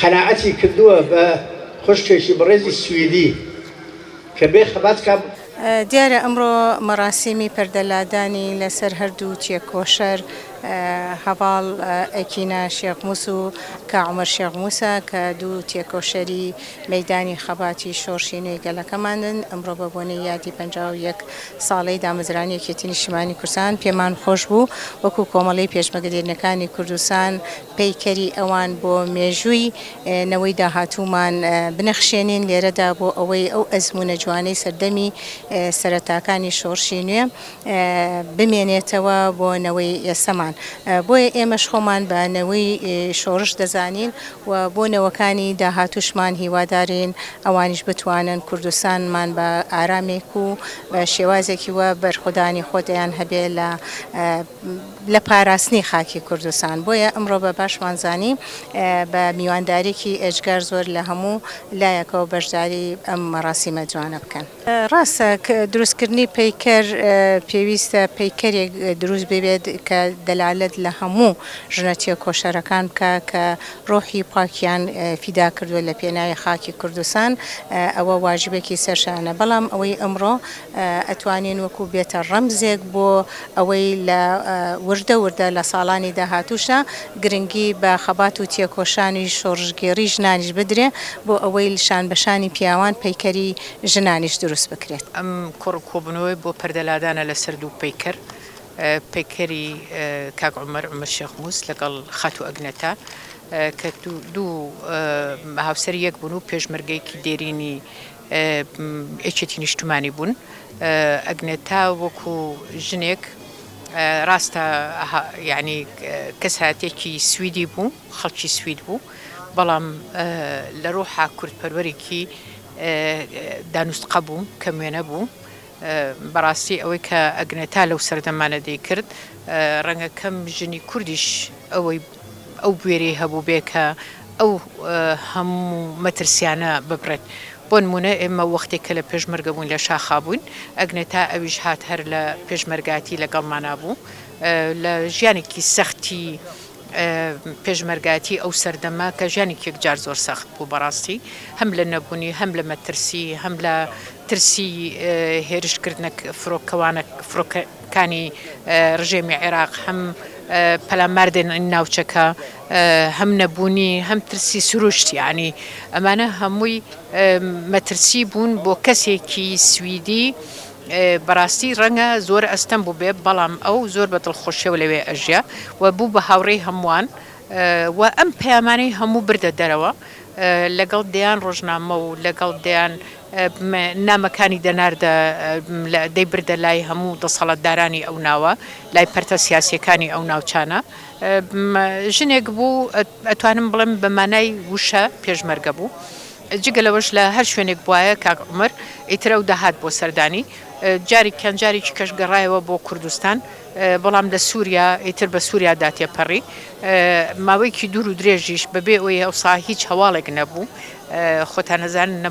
قەناعەتی کردووە بە خوشکێکی بەڕێزی سویدی کە بێ خەبات کە. دیارە ئەمڕۆ مەڕاسیمی پەردە لادانی لە سەر هەردوو تێکۆشەر هەڤاڵ ئەکینا شێخ موس و کا عومەر شێخ موسە کە دوو تێکۆشەری مەیدانی خەباتی شۆڕشی نوێی گەلەکەمانن. ئەمڕۆ بە بۆنەی یادی پەنجا و یەک ساڵەی دامەزرانی یەکێتی نیشتیمانی کوردستان پێمان خۆش بوو وەکوو کۆمەڵەی پێشمەگە دێرینەکانی کوردستان، پەیکەری ئەوان بۆ مێژووی نەوەی داهاتوومان بنەخشێنین لێرەدا بۆ ئەوەی ئەو ئەزموونە جوانەی سەردەمی سەرەتاکانی شۆڕشی نوێ بمێنێتەوە بۆ نەوەی ئێستەمان بۆیە ئێمەش خۆمان بە نەوەی شۆڕش دەزانین و بۆ نەوەکانی داهاتووشمان هیوادارین ئەوانیش بتوانن کوردستانمان بە ئارامێک و بە شێوازێکی وا بەرخۆدانی خۆتیان هەبێ لە لە پاراستنی خاکی کوردستان بۆیە ئەمڕۆ بە باشمان زانی بە میوانداریکی ئێجگار زۆر لە هەموو لایەکەوە بەشداری ئەم مەڕاسیمە جوانە بکەن. ڕاستە دروست کردنی پەیکەر پێویستە پەیکەرێک دروست ببێت کە دەلالەت لە هەموو ژنە تێکۆشەرەکان بکا کە ڕۆحی پاکیان فیدا کردوە لە پێناوی خاکی کوردستان ئەوە واجبێکی سەر شانە بەڵام ئەوەی ئەمڕۆ ئەتوانین وەکو بێتە ڕەمزێک بۆ ئەوەی لە وردە وردە لە ساڵانی داهاتووشدا گرنگی بە خەبات و تێکۆشانی شۆڕشگێڕی ژنانیش بدرێ بۆ ئەوەی شان بە شانی پیاوان پەیکەری ژنانیش دروست بکرێت. ئەم کۆڕ و کۆبوونەوەیە بۆ پەردە لادانە لە سەر دوو پەیکەر، پەیکەری کاک عومەر، عومەر شێخ مووس، لەگەڵ خاتوو ئەگنەتا کە دوو هاوسەری یەک بوون و پێشمەرگەیەکی دێرینی یەکێتی نیشتمانی بوون ئەگنێتا وەکو ژنێک ڕاستە یعنی کەساتێکی سویدی بوو خەڵکی سوید بوو بەڵام لە ڕۆحا کوردپەروەرێکی دانوستقە بوو کە موێنە بوو بەڕاستی ئەوەی کە ئەگنێتا لەو سەردەمانە دەیکرد، ڕەنگە کەم ژنی کوردیش ئەوەی ئەو بوێریی هەبووبێ کە ئەو هەموو مەترسییانە ببڕێت. بۆ نموونە ئێمە وەختێک کە لە پێشمەرگە بووین لە شاخا بووین، ئەگنێتا ئەویش هات هەر لە پێشمەرگایەتی لەگەڵمانا بوو، لە ژیانێکی سەختی، پێشمەرگایەتی ئەو سەردەمە کە ژیانێکی یەکجار زۆر سەخت بوو بەڕاستی هەم لە نەبوونی هەم لە مەترسی هەم لە ترسی هێرشکردنە فرۆکەوانە فرۆکەکانی ڕژێمی عێراق هەم پەلاماردێن ناوچەکە هەم نەبوونی هەم ترسی سروشتیانی ئەمانە هەمووی مەترسی بوون بۆ کەسێکی سویدی بەڕاستی ڕەنگە زۆر ئەستەم بووبێ بەڵام ئەو زۆر بە دڵخۆشیەوە لەوێ ئەژیا و بوو بە هاوڕێی هەمووان و ئەم پەیامانەی هەموو بردە دەرەوە لەگەڵ دەیان ڕۆژنامە و لەگەڵ دەیان نامەکانی دەناردە دەیبردە لای هەموو دەسەڵاتدارانی ئەو ناوە لای پەرتە سیاسیەکانی ئەو ناوچانە ژنێک بوو ئەتوانم بڵێم بە مانای وشە پێشمەرگە بوو. جگە لەوەش لە هەر شوێنێک بوایە کاک عومەر ئیتر ئەو دەهات بۆ سەردانی، جارێکیان جارێکی کەش گەڕایەوە بۆ کوردستان، بەڵام لە سوریا ئیتر بە سوریا دا تێپەڕی، ماوەیەکی دوور و درێژیش بە بێ ئەوەی ئەوسا هیچ هەواڵێک نەبوو، خۆتان ئەزانن نە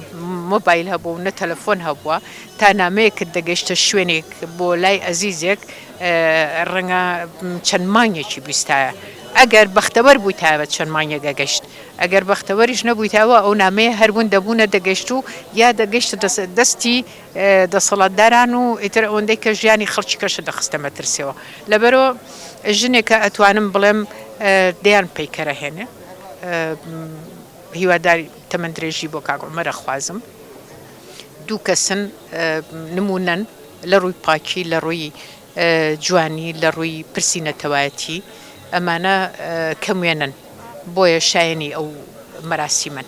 مۆبایل هەبووە و نە تەلەفۆن هەبووە، تا نامەیەکت دەگەیشتە شوێنێک بۆ لای ئەزیزێک ڕەنگە چەند مانگێکی بیستایە، ئەگەر بەختەوەر بوویتایە چەند مانگێک ئەگەشت. ئەگەر بەختەوەریش نەبوویت ئەوا ئەو نامەیە هەر ون دەبوو نەدەگەشت و یا دەگەشتە دەستی دەسەڵاتداران و ئیتر ئەوەندەی کە ژیانی خەڵکی کەشت دەخستە مەترسیەوە لەبەرئەوە ژنێکە ئەتوانم بڵێم دەیان پەیکەرە هێنێ هیواداری تەمەن درێژی بۆ کاک عومەر ئەخوازم دوو کەسن نمونەن لە ڕووی پاکی لە ڕووی جوانی لە ڕووی پرسی نەتەوایەتی ئەمانە کەم وێنەن بۆیە شایەنی ئەو مەراسیمەن.